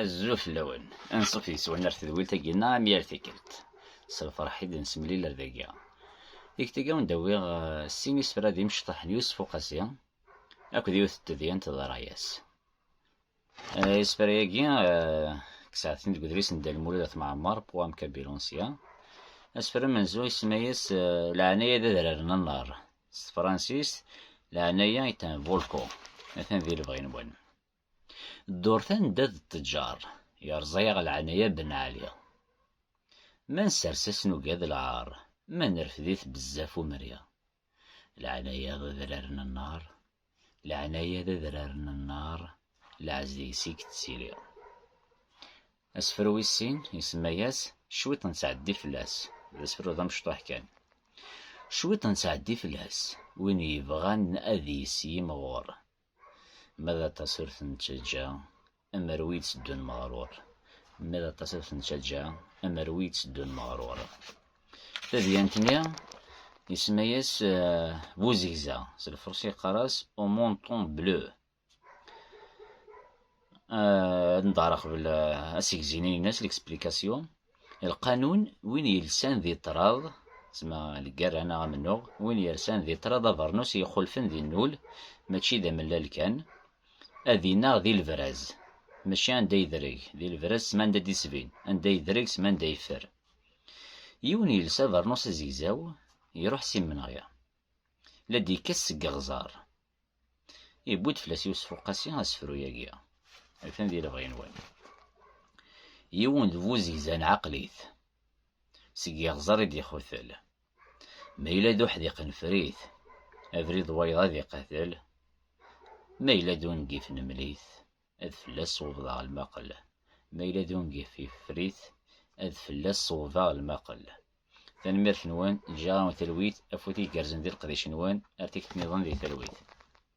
Azul fell-awen, ansuf yes-wen ar tedwilt-agi neɣ am yal tikkelt. S lferḥ i d-nesemlil ar dagi. Tikkelt-agi awen d-awiɣ eh, sin isefra d imecṭaḥ n Yusef Uqasi akked yiwet n tedyant d ṛṛay-as. Eh, isefra-agi eh, ksaɛtin deg udlis n Dda Lmulud At Mɛemmer, Poam Kabilonsya. Asefra amenzu isemma-yas Leɛnaya d adrar n nnar. S tefransist, Leɛnaya est un volcan. Atan di lebɣi-nwen. Ddurt anda d ttǧar, yerẓa-yaɣ leɛnaya Ben Ɛli. Ma nsers-as nugad lɛar, ma nerfed-it bezzaf umri. Leɛnaya d adrar n nnar, leɛnaya d adrar n nnar, lɛez deg-s i yettili. Asefru wis sin, isemma-yas Cwiṭ n ttɛeddi fell-as, d asefru d amecṭuḥ kan. Cwiṭ n ttɛeddi fell-as, win yebɣan ad yis yimɣur, Ma d aṭas ur ten-ttaǧǧa, amer wi itteddun meɣrur. Ma d aṭas ur ten-ttaǧǧa, amer wi itteddun meɣrur. Tadyant-nni isemma-yas eh, Buzegza, s lferṣi yeqqar-as Au monton bleu. Eh, ad neḍɛer aqbel eh, asegzi-nni-ines, l'explication. Lqanun, win yelsan di ṭṭrad, zma lgerra neɣ amennuɣ, win yersan di ṭṭrad abernus i ixulfen di nnul, mačči d amellal kan, ad ineɣ di lebraz, mačči anda yedreg, di lebraz sma anda d-isbin, anda yedreg sma anda yeffer. Yiwen yelsa abernus azegzaw, iruḥ s imenɣi, la d-ikkes seg iɣẓar. Yewwi-d fell-as Yusef Uqasi asefru-agi, atan di lebɣi-nwen. Yiwen d bu zegza n ɛaqlit, seg yiɣẓer i d-ixutel. Ma yella d uḥdiq n frit, abrid wayeḍ ad iqatel, ma yella d ungif n mlit, ad fell-as ṣewbeḍ lmaqel, ma yella d ungif yeffer-it, ad fell-as ṣewbeḍ lmaqel. Tanemmirt-nwen, ǧǧiɣ-awen talwit, afud igerrzen di leqdic-nwen, ar tikti-nniḍen di talwit.